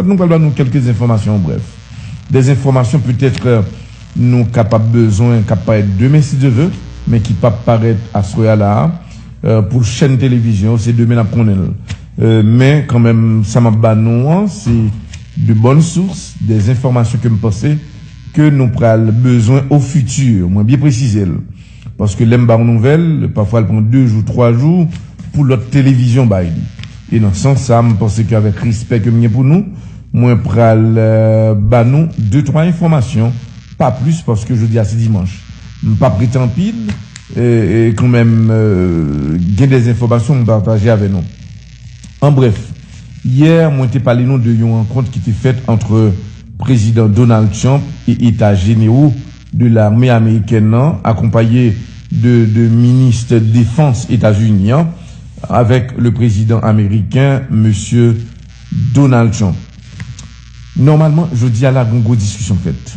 Nou pral ba nou kèlke enfòmasyon an brèf. Des enfòmasyon peut-être nou kapab bezwen kap parèt demen si Dye ve, men ki pap parèt aswè a la a. Pou chèn televizyon yo se demen nap konnen l. Men kanmenm sa map ba nou an se de bonnes sources, des enfòmasyon ke m panse ke nou pral bezwen au futur. Mwen byen presize l. Paske lè m ba yon nouvèl, pafwa l pran 2 jou, 3 jou pou lòt televizyon bay li. E nan sans sa, m panse ke avèk respè ke m gen pou nou, mwen pral ba nou de twa enfòmasyon, pa plis paske jodi a se dimanch. M pa prete anpil, e kan menm gen de enfòmasyon m pataje avè nou. An brèf, yè mwen te pale nou de yon rankont ki te fèt antre Prezidan Donald Trump e Eta Jenewo. de lame amerikèn nan akonpaye de de ministè defans Etazini an avèk le prezidan ameriken Mesye Donald Trump. Nòmalman jodi a la gon gwo diskisyon fèt.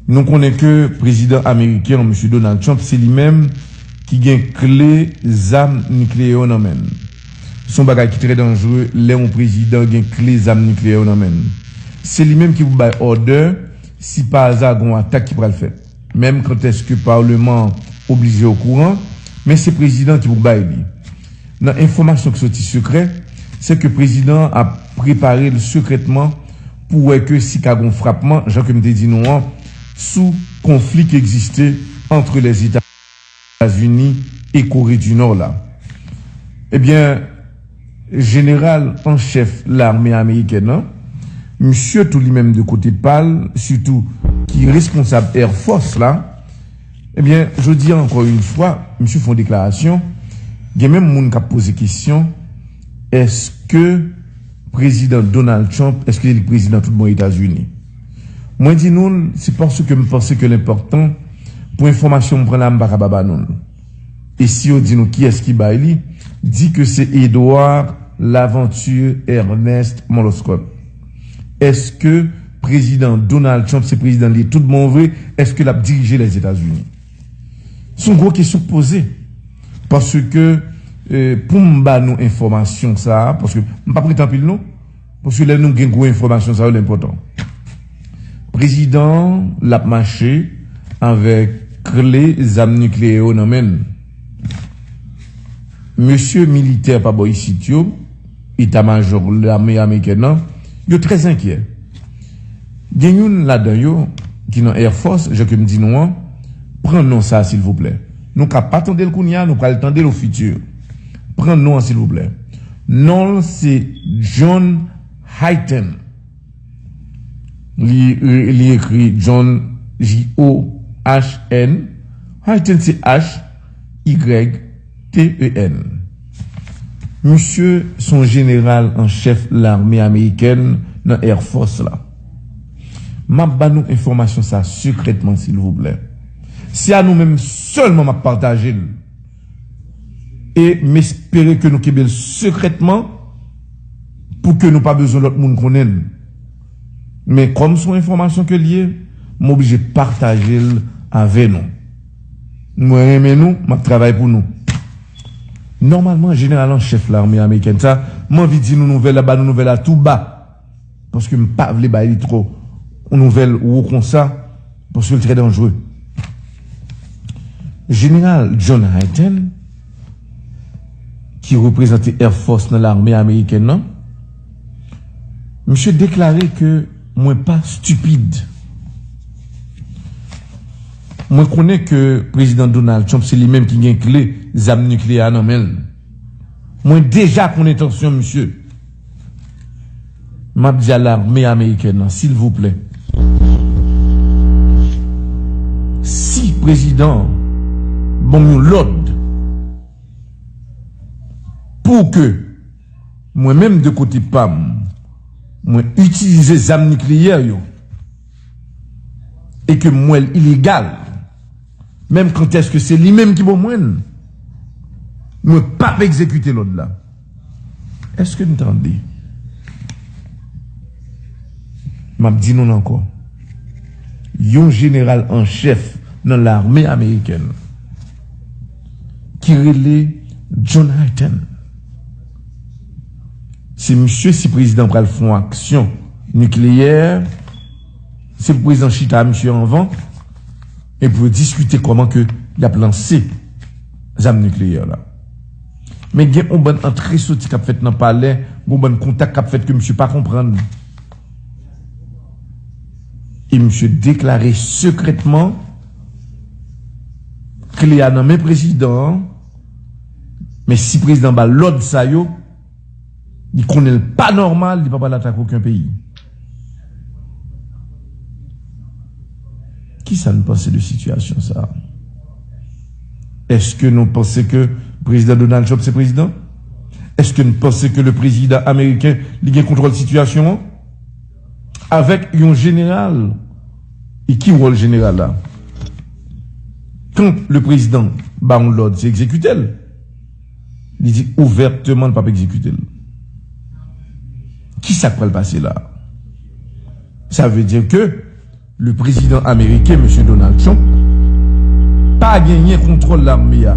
Nou konnen ke prezidan ameriken an Mesye Donald Trump se li menm ki gen kle zam nikleyè yo nan men l. Son bagay ki trè danjre lè yon prezidan gen kle zam nikleyè yo nan men l. Se li menm ki pou bay òdè. Si pa aza gon atak ki pral fèt menm kanteske parleman an oblije okouran men se prezidan ki pou bay li nan enfomasyon ki soti sekrè se ke prezidan an ap prepare l sekrètman pou wè ke si ka gon frapman jan ke m te di nou an sou konfli ki egziste antre lèzeta. Etazini e Kore di Nò la. Ebyen, jeneral an chèf lame amerikèn an, misye tou li menm de kote pa l, sitou ki responsab Air Force la, ebyen, jodi a ankò yon fwa, misye fè yon deklarasyon, gen menm moun k ap poze kesyon, èske prezidan Donald Trump, èske li prezidan tout bon Etazini? Mwen di nou l, se paske m panse ke l enpòtan pou enfòmasyon m pran la m pa kaba ba nou l. E si yo di nou kiyès ki bay li, di ke se Edouard Laventure Ernest Moloskòt. Èske Prezidan Donald Trump se prezidan l ye tout bon vre? Èske l ap dirije Lèzetazini? S on gwo kesyon k poze. Paske pou m ba nou enfòmasyon sa a, paske m pa prete anpil non. Paske lè nou gen gwo enfòmasyon sa yo l enpòtan. Prezidan an l ap mache avèk kle zam nikleyè yo nan men l. Mesye militè pa bò isit yo, eta majò lame amerikèn an, yo trè enkyè. Gen youn ladan yo ki nan Air Force, jan ke m di nou an, pran non sa silvouplè. Nou ka pa tande l kounya, nou pral tande l ofiti. Pran non an silvouplè. Non l se John Hyten. Li ekri John J-O-H-N. Hyten se H-Y-T-E-N. Misye se yon jeneral an chèf lame amerikèn nan Air Force la. M ap ba nou enfòmasyon sa sekrètman silvouplè. Se a nou menm sèlman m ap pataje l. E m espere ke nou kenbe l sekrètman pou ke nou pa bezwen lòt moun konnen l. Men kòm s on enfòmasyon ke l ye, m oblije pataje l avè nou. Mwen renmen nou, m ap travay pou nou. Nòmalman, jeneral an chèf lame amerikèn sa, m anvi di nou nouvèl la, ba nou nouvèl la tou ba. paske m pa vle bay li trò yon nouvèl wo konsa paske l trè danjre. Jeneral John Hyten, ki reprezante Air Force nan lame amerikèn nan, misye deklare ke mwen pa stipid. Mwen konnen ke Prezidan Donald Trump se li menm ki gen kle zam nikleyè a nan men l. Mwen deja konnen entansyon misye. Map di a lame amerikèn an silvouplè si prezidan an banm yon lòd pou ke mwen menm de kote pam mwen itilize zam nikleyè yo e ke mwen l ilegal menm kantèske se li menm ki ban mwen l mwen pap egzekite lòd la. Eske n tande? M ap di nou l ankò. Yon jeneral an chèf nan lame amerikèn ki rele John Hyten. Se misye si prezidan pral fè yon aksyon nikleyè, se pou prezidan chita a misye anvan e pou yo diskite kòman ke y ap lanse zam nikleyè la. Men gen yon bann antre soti k ap fèt nan palè, gen yon bann kontak k ap fèt ke misye pa konprann. E misye deklare sekrètman kle a nan men prezidan an, men si prezidan an ba l lòd sa yo, Li konnen l pa nòmal, li pa pral atake oken peyi. Kisa n panse de sitiyasyon sa a? Eske nou panse ke Prezidan Donald Trump se prezidan? Eske n panse ke le prezidan ameriken li gen kontwòl sitiyasyon an? Avèk yon jeneral, e ki wòl jeneral la? Kan le prezidan ba yon lòd, se egzekite l. Li di ouvèteman l pap egzekite l. Kisa k pral pase la? Sa vle di ke le prezidan ameriken Mesye Donald Trump pa genyen kontwòl lame a.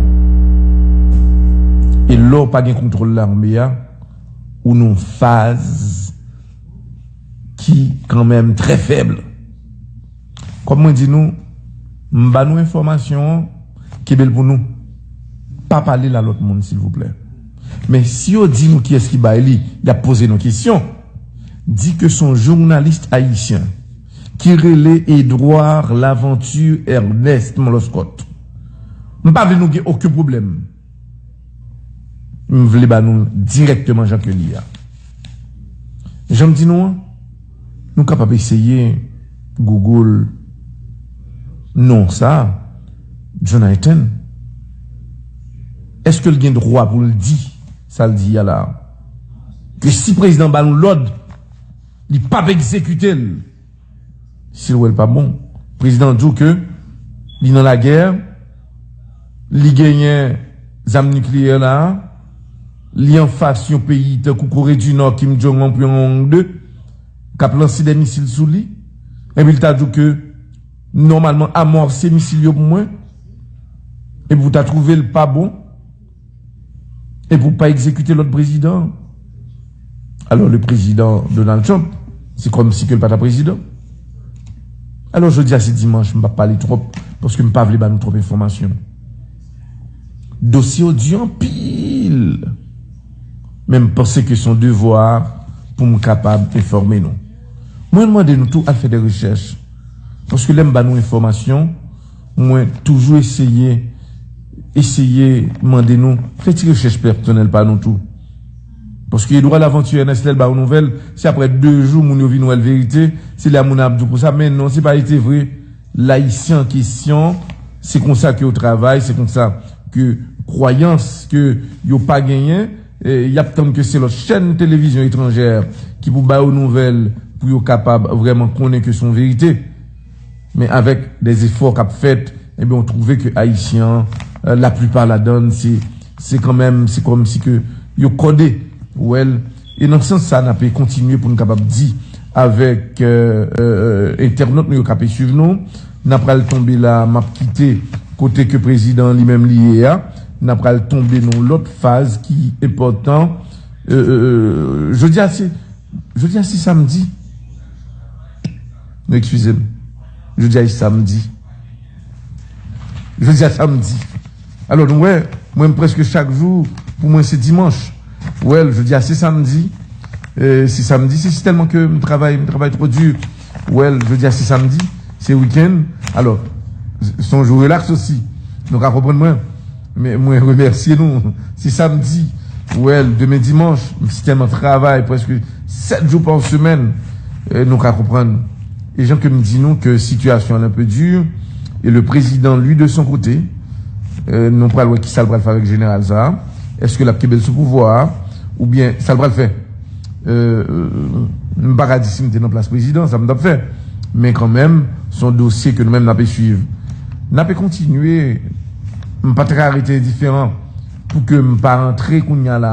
E lè w pa gen kontwòl lame a, ou nan yon faz ki kanmenm trè fèb. Kòm mwen di nou, m ba nou enfòmasyon an, kenbe l pou nou. Pa pale l a lòt moun silvouplè. Men si yo di nou kiyès ki bay li, y ap poze nou kesyon. Di ke s on journalis ayisyen ki rele Edouard Laventure Ernest Moloskòt. M pa vle nou gen oken pwoblèm. M vle ba nou l dirèkteman jan ke l ye a. Jan m di nou an, nou kapab eseye Google non sa a, Jonathan. Eske l gen dwa pou l di sa l di a la a? Ke si prezidan ba l yon lòd, li pap egzekite l. Sil wèl pa bon. Prezidan an di w ke li nan lagè, li genyen zam nikleyè la a, li anfas yon peyi tankou Kore di Nò, Kim Jong Un, Pyong Yang 2, k ap lanse dè misil sou li, epi li ta di w ke nòmalman amòse misil yo pou mwen, epi pou ta twouve l pa bon. E pou pa egzekite lòt prezidan. Alò le prezidan Donald Trump se kòm si ke l pa ta prezidan. Alò jodi a se dimanch m pa pale twòp paske m pa vle ba nou twòp enfòmasyon. Dosye yo di anpil. Men m panse ke son devwa pou m kapab enfòme nou. Mwen mande nou tou al fè de rechèch. Paske lè m ba nou enfòmasyon. Mwen toujou eseye eseye mande nou fè ti rechèch pèsonèl pa nou tou. Paske Edouard Laventure Ernest lè l ba yon nouvèl, se aprè 2 jou moun yo vin wè l verite, se la moun ap di w konsa men non se pa ete vre. L ayisyen an kesyon se konsa ke yo travay, se konsa ke kwayans ke yo pa genyen, y ap tann ke se lòt chèn televizyon etranjè ki pou ba yo nouvèl pou yo kapab vrèman konnen ke se yon verite. Men avèk dè efò k ap fèt, enben ou twouve ke Ayisyen an, laplipa ladan l, se, se kanmenm, se kòmsi ke yo kòde, ou wè l. E nan sans sa a n ape kontinye pou n kapab di avèk entènot nou yo k ape suiv nou, n apral tonbe la a, m ap kite kote ke prezidan an li menm li ye a, n apral tonbe nan yon lòt faz ki enpòtan. Jodi a se. Jodi a se samdi. Nou ekskize m. Jodi a e samdi. Jodi a samdi. Alò nou wè, mwen m prèske chak jou pou mwen se dimanch. Wèl, jodi a se samdi. Se samdi, se si tèlman ke m travay, m travay two di. Well, jodi a se samdi, se weekend, alò, se yon jou relax osi. Nou ka konprann mwen. Men mwen remèsye nou. Se samdi. Well, demen dimanche, m si tèlman travay prèske 7 jou pa semèn. Nou ka konprann. E jan ke m di nou ke sitiyasyon an enpe dur e le prezidan li de son kote, nou pral wè kisa l pral fè avèk jeneral sa a. Eske l ap kenbe l sou pouvwa a oubyen sa l pral fè? M pa ka di si m te nan plas prezidan sa m t ap fè. Men kanmenm se yon dosye ke nou menm n ape swiv. N ape kontinye, m pa ta ka rete endiferan pou ke m pa rantre kounya la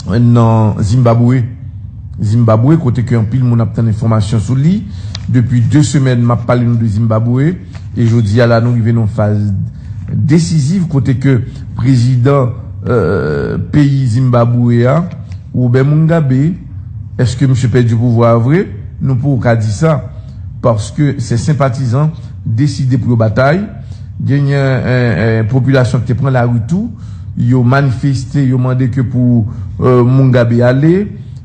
a nan Zimbabwe. Zimbabwe kote ke anpil moun ap tann enfòmasyon sou li. Depi 2 semèn m ap pale nou de Zimbabwe e jodi a la nou rive nan yon faz. desiziv kote ke prezidan peyi Zimbabwe a, Robert Mungabe, eske misye pèdi pouvwa a vre? Nou poko ka di sa, paske se senpatizan deside pou yo batay, genyen popilasyon ki te pran lari tou, yo manifeste, yo mande ke pou Mungabe ale,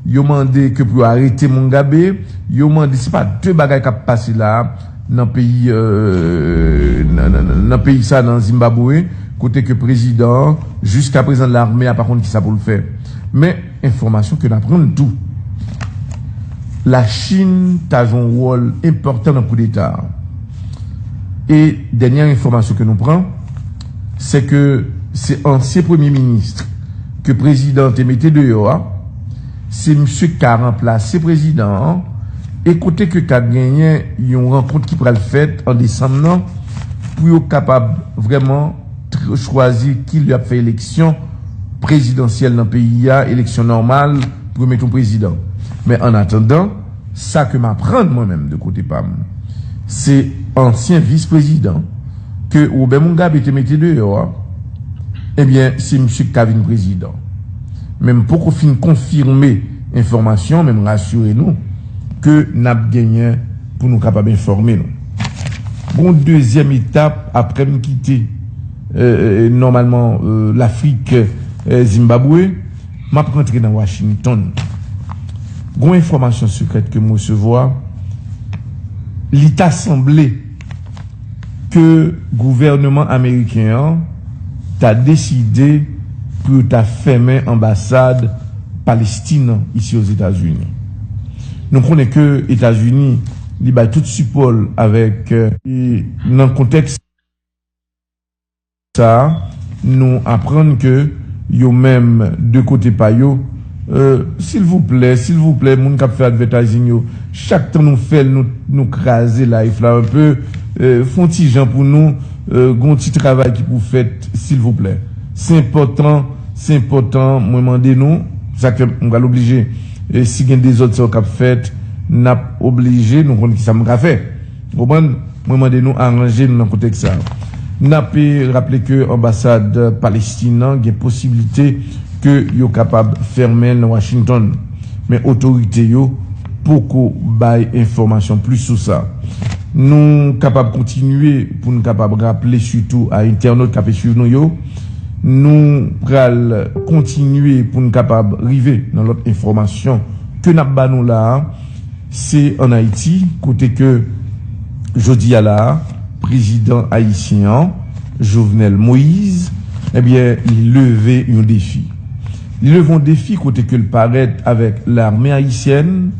yo mande ke pou yo arete Mungabe, yo mande, se pa de bagay kap pase la a. nan peyi nan peyi sa nan Zimbabwe kote ke prezidan an jiska prezan lame a pa konn kisa poul fè men enfòmasyon ke n aprann tou lachin ta jwe yon wòl enpòtan nan koudeta a e dènyè enfòmasyon ke nou pran sè ke se ansyen premye minis ke prezidan te mete deyò a. Se misye ki ka ranplase prezidan an e kote ke ka genyen yon rankont ki pral fèt an desanm nan pou yo kapab vrèman chwazi ki lè y ap fè eleksyon prezidansyèl nan peyi a, eleksyon nòmal pou yo mete yon prezidan. Men an atandan, sa ke m aprann mwen menm de kote pa m, se ansyen vis prezidan ke Robert Mugabe te mete deyò a, ebyen se misye ki ka vin prezidan. men m poko fin konfime enfòmasyon men m rasire nou ke n ap genyen pou nou kapab enfòme nou. Gen yon dezyèm etap apre m kite nòmalman Lafrik, Zimbabwe, m ap rantre nan Washington. Gen yon enfòmasyon sekrèt ke m resevwa, li ta sanble. ke gouvèneman ameriken an ta deside pou yo ta fèmen anbasad Palestin an isi Ozetazini. Nou konnen ke Etazini li bay tout sipò l avèk. E nan kontèks sa. Sa a, nou aprann ke yo menm de kote pa yo, euh, silvouplè, silvouplè moun kap fè advertising yo, chak tan nou fèl nou nou kraze life la un peu, euh, fon ti jan pou nou, euh, gon ti travay ki pou fèt silvouplè. Se enpòtan, se enpòtan mwen mande nou, sak fè m pral oblije, si gen dezòd sa yo kap fèt, nap oblije, nou konn kisa m ka fè. Ou konprann? Mwen mande nou aranje nou nan kontèks sa a. N ap raple ke anbasad Palestin an gen posiblite ke yo kapab fèmen l nan Washington, men otorite yo poko bay enfòmasyon plis sou sa. Nou kapab kontinye pou n kapab raple sitou a entènot k ape swiv nou yo. Nou pral kontinye pou n kapab rive nan lòt enfòmasyon ke n ap ba nou la a. Se an Ayiti kote ke jodi a la a, prezidan ayisyen an, Jovenel Moise, ebyen li leve yon defi. Li leve yon defi kote ke l parèt avèk lame ayisyèn,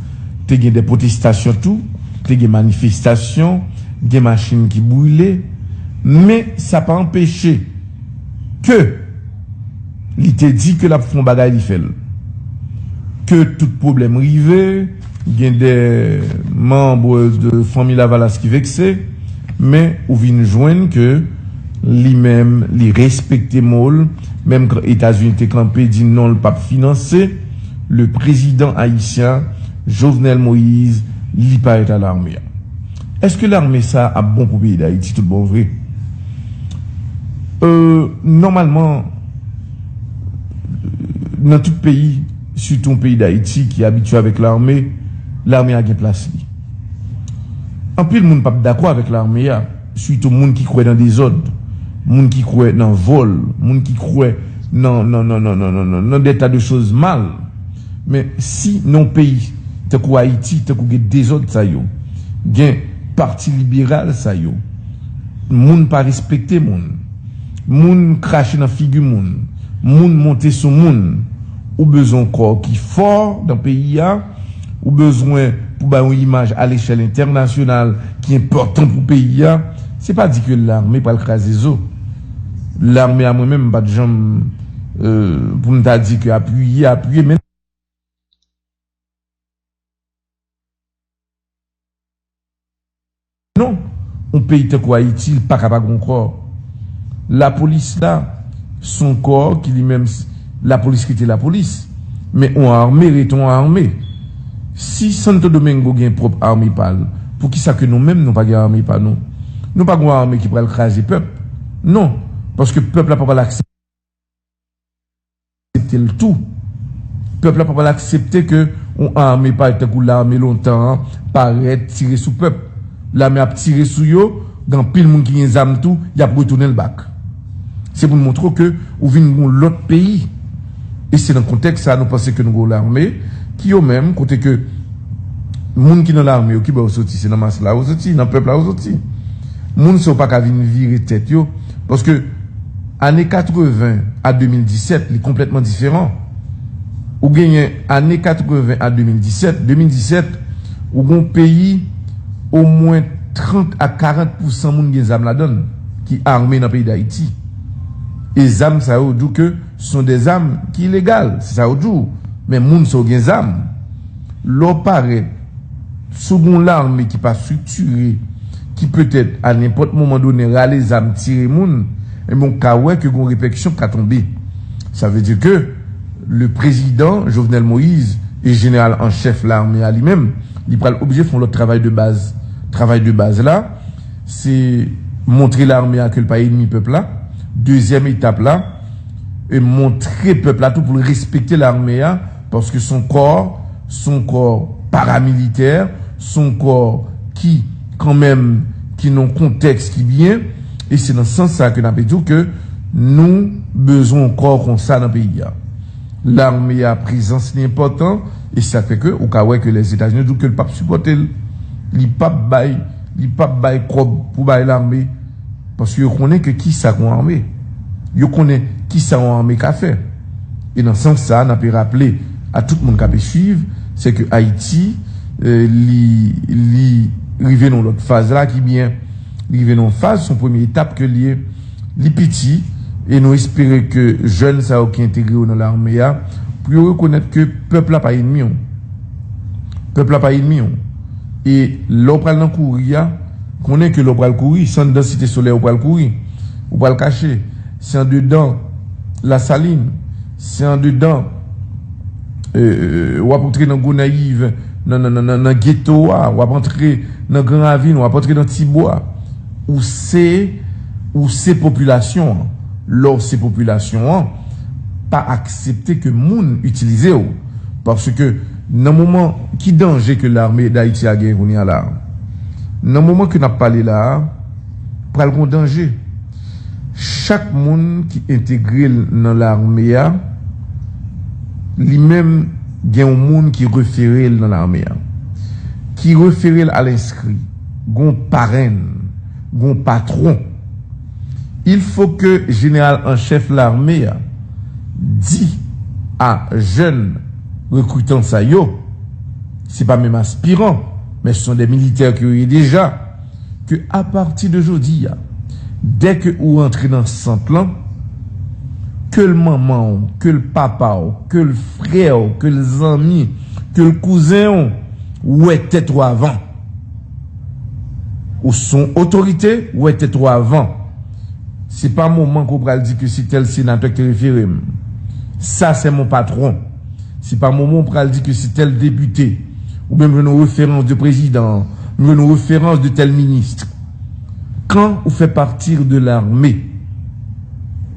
te gen de pwotestasyon tou, te gen manifestasyon, gen machin ki brile, men sa pa anpeche ke. Li te di ke lap fè yon bagay li fèl. Ke tout pwoblèm rive, gen de manbre de fanmi lavalas ki vekse, men ou vin jwenn ke li menm li respekte mol, menm kan etazini te kanpe di non li pap finanse le prezidan ayisyen Jovenel Moïse li pa et alarme. Eske lame sa ap bon pou peyi dayiti tout bon vre? Euh nòmalman nan tout peyi sitou peyi dayiti ki abitye avèk lame, lame a gen plas li. Anpil moun pap dakò avèk lame a sitou moun ki kwè nan dezòd, moun ki kwè nan vòl, moun ki kwè nan nan nan nan nan nan nan nan dè ta de choz mal. Men si nan yon peyi tankou Ayiti, tankou gen dezòd sa yo, gen pati liberal sa yo, moun pa respekte moun, moun krache nan figi moun, moun monte sou moun, ou bezwen yon kò ki fò nan peyi a, ou bezwen pou bay yon imaj alechèl entènasyonal ki enpòtan pou peyi a, se pa di ke lame pral kraze zo. Lame a mwen menm m pa t janm. pou m ta di ke apiye, apiye men. Non, yon peyi tankou Ayiti li paka pa gen yon kò. Lapolis la se yon kò ki li menm, lapolis rete lapolis, men yon ame rete yon ame. Si Santo Domingo gen pwòp ame pa l, poukisa ke nou menm nou pa gen ame pa nou? Nou pa gen yon ame ki pral kraze pèp. Non, paske pèp la pa pral aksepte. aksepte l tou. Pèp la pa pral aksepte ke yon ame pa tankou lame lontan an parèt tire sou pèp. Lame ap tire sou yo, gen anpil moun ki gen zam tou, y ap retounen l bak. Se pou n montre w ke ou vin yon lòt peyi. E se nan kontèks sa a nou panse ke nou gen yon lame ki yo menm, kote ke moun ki nan lame yo, ki bò yo soti? Se nan mas la yo soti, nan pèp la yo soti. Moun sa yo pa ka vin vire tèt yo. Paske ane 80 a 2017 li konplètman diferan. Ou genyen ane 80 a 2017, 2017 ou gen yon peyi omwen 30 a 40 pousan moun gen zam ladan l ki ame nan peyi Dayiti. E zam sa yo di w ke se son de zam ki ilegal, se sa yo di w. Men moun sa yo gen zam. Lè w parèt. Si w gen yon lame ki pa striktire, ki petèt a nenpòt moman donnen rale zam tire moun, enben w ka wè ke gen yon repèkisyon ki ka tonbe. Sa vle di ke le prezidan Jovenel Moïse e jeneral an chèf lame a li menm, li pral oblije fè yon lòt travay de baz. Travay de baz la, se montre lame a ke l pa enmi pèp la. Dezyèm etap la, montre pèp la tou pou l respekte lame a. Paske son kò, son kò paramilitè, son kò ki kan menm ki nan kontèks ki byen, e se nan sans sa ke n'ape di w ke nou bezwen yon kò konsa nan peyi a. Lame a prezans li enpòtan, e sak fè ke ou ka wè ke Lèzetazini di w ke li pap sipòte l, li pap bay, li pap bay kòb pou bay lame. Paske yo konnen ke kisa yon ame. Yo konnen kisa yon ame ka fè. E nan sans sa a n ape raple a tout moun k ape swiv, se ke Ayiti li li rive nan yon lòt faz la ki byen. Li rive nan yon faz, se yon premye etap ke l ye. Li piti e nou espere ke jèn sa yo ki entegre yo nan lame a pou yo rekonèt ke pèp la pa enmi w. Pèp la pa enmi w. E lè w pral nan kouri a. Konnen ke lè w pral kouri, san dan Site Solèy ou pral kouri, ou pral kache. Se andedan Lasalin, se andedan w ap antre nan Gonayiv, nan geto a, w ap antre nan Gran Ravin, w ap antre nan Tibwa. Ou se, ou se popilasyon an. Lè w se popilasyon an, pa aksepte ke moun itilize w. Paske. Nan moman, ki danje ke lame Dayiti a genyen kounye a la a? Nan moman ke n ap pale la a, pral gon danje. Chak moun ki entegre l nan lame a, li menm gen yon moun ki refere l nan lame a, ki refere l al enskri. Gon parenn, gon patwon. Il fo ke jeneral an chèf lame a di a jèn Rekritan sa yo, se pa menm aspiran, men se son de militè ke yo ye deja, ke apati de jodi a, dè ke ou rantre nan sant lan, ke l manman w, ke l papa w, ke l frè w, ke l zanmi, ke l kouzen w, ou wè tèt ou avan. Ou son otorite, ou wè tèt ou avan. Se pa moman ke w pral di ke se tèl senatè ki te refere m. Sa sè mon patron. Se pa moman w pral di ke se tèl depite. Ou byen m jwenn yon referans de prezidan, m jwenn yon referans de tèl ministre. Kan ou fè partir de l'armée,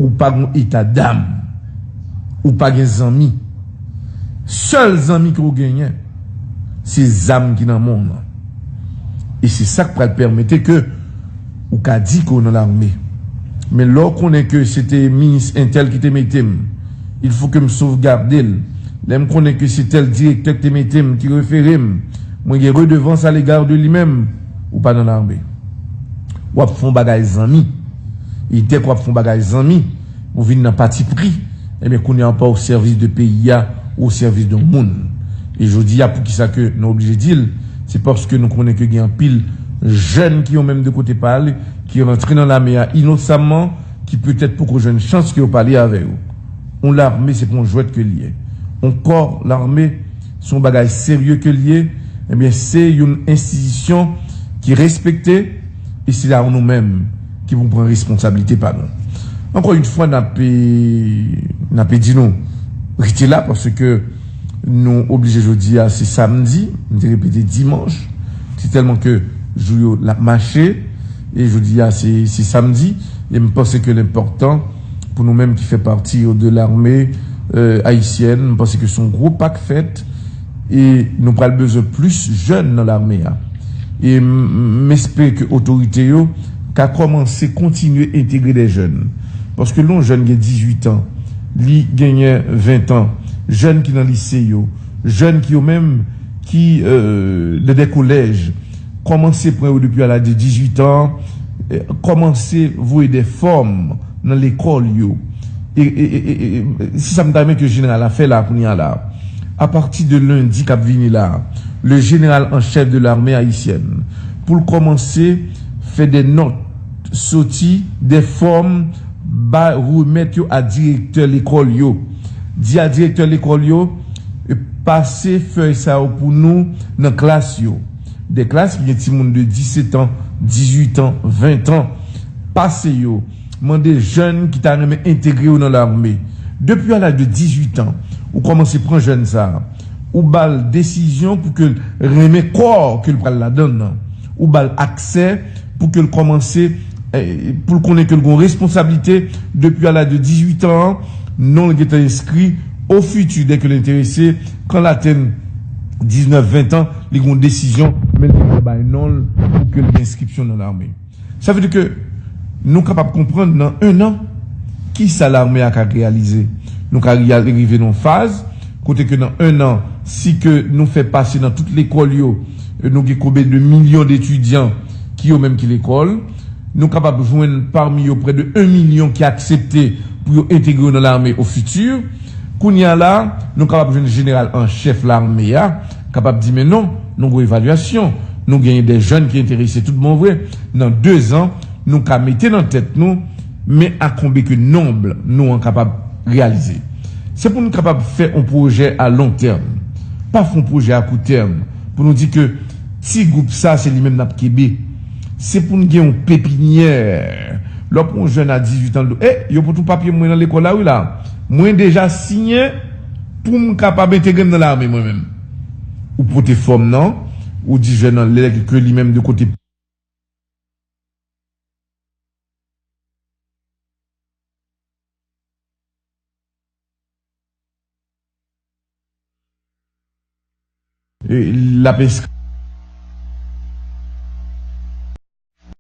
ou pa gon eta dam. Ou pa gen zanmi. Sèl zanmi ke w genyen, se zam ki nan men w nan. E se sa k pral pèmete ke. Ou ka di ke w nan larme. Men lè w konnen ke se te minis entèl ki te mete m, il fo ke m sovgade l. Lè m konnen ke se tèl direktè ki te mete m, ki refere m, mwen gen redevans a légard de li menm. Ou pa nan larme. W ap fon bagay zanmi. E dèk w ap fon bagay zanmi, Ou vin nan pati pri, ebyen kounya ou pa o sèvis de peyi a, ou o sèvis de yon moun. E jodi a poukisa ke nou oblije di l, se paske nou konnen ke gen anpil jèn ki yo menm de kote pa yo, ki rantre nan lame a inosamman, ki petèt poko jwenn chans ke yo pale avè yo. Yon lame se pa yon jwèt ke l ye. Yon kò lame se yon bagay serye ke l ye, ebyen se yon enstitisyon ki respekte, e se la ou nou menm ki pou pran responsabilite pa nou. Ankò yon fwa nape nape di nou rete la paske nou oblije jodi a se samdi m te repete dimanch se tèlman ke jou yo lap mache e jodi a se se samdi e m panse ke lenpòtan pou nou menm ki fè pati de larme ayisyèn m panse ke son gwo pak fèt E nou pral bezwen plis jèn nan lame a. E m espere ke otorite yo ka kòmanse kontinye entegre dè jèn. Paske lè yon jèn gen 18 an, li genyen 20 tan, jèn ki nan lise yo, jèn ki yo menm ki nan dè kolèj, kòmanse pran yo depi a laj de 18 an, kòmanse voye dè fòm. nan lekòl yo e se sa m ta renmen ke jeneral la fè la kounye a la a pati de lendi k ap vini la a le jeneral an chèf de lame ayisyèn pou l kòmanse fè de nòt soti de fòm ba remèt yo a direktè lekòl yo di a direktè lekòl yo pase fèy sa yo pou nou nan klas yo. Des classes ki gen timoun de 17 ans, 18 ans, 20 ans pase yo mande jèn ki ta renmen entegre yo nan lame. Depi a laj de 18 ans, ou kòmanse pran jèn sa a, ou ba l desizyon pou ke l renmen kò ke l pral ladann nan, ou ba l aksè pou ke l kòmanse pou l konnen ke l gen yon responsablite depi a laj de 18 ans an, non l gentan enskri o fiti dè ke l enterese Kan l atenn 19, 20 tan, li gen yon desizyon, men li dwe bay non l pou ke l gen enskripsyon nan lame. Sa vle di ke nou kapab konprann nan ennan, ki sa lame a ka reyalize. Nou ka rive nan yon faz, kote ke nan ennan, si ke nou fè pase nan tout lekòl yo, nou gen konbe de milyon de etidyan ki yo menm ki lekòl. Nou kapab jwenn pami yo prè de 1 milyon ki aksepte pou yo entegre yo nan lame o fiti. Kounye a la, nou kapab jwenn jeneral an chèf lame a kapab di men non, nou gwo evalyasyon, nou genyen de jèn ki enterese tout bon vre, nan dezan nou ka mete nan tèt nou men a konbe ke nonb nou an kapab reyalize. Se pou nou kapab fè on pwojè a lon tèm, pa fon pwojè a kou tèm pou nou di ke. Ti gwoup sa se li menm nap kenbe. Se pou n gen yon pepinyè. Lè w pran yon jèn a 18 an l do. Hey, yo pot ou papye m mwen nan lekòl la wi la. Mwen deja siyen pou m kapab entegre m nan lame mwen menm. Ou pote fòm nan, ou di jèn nan lè ke li menm de kote. L ap eskrè.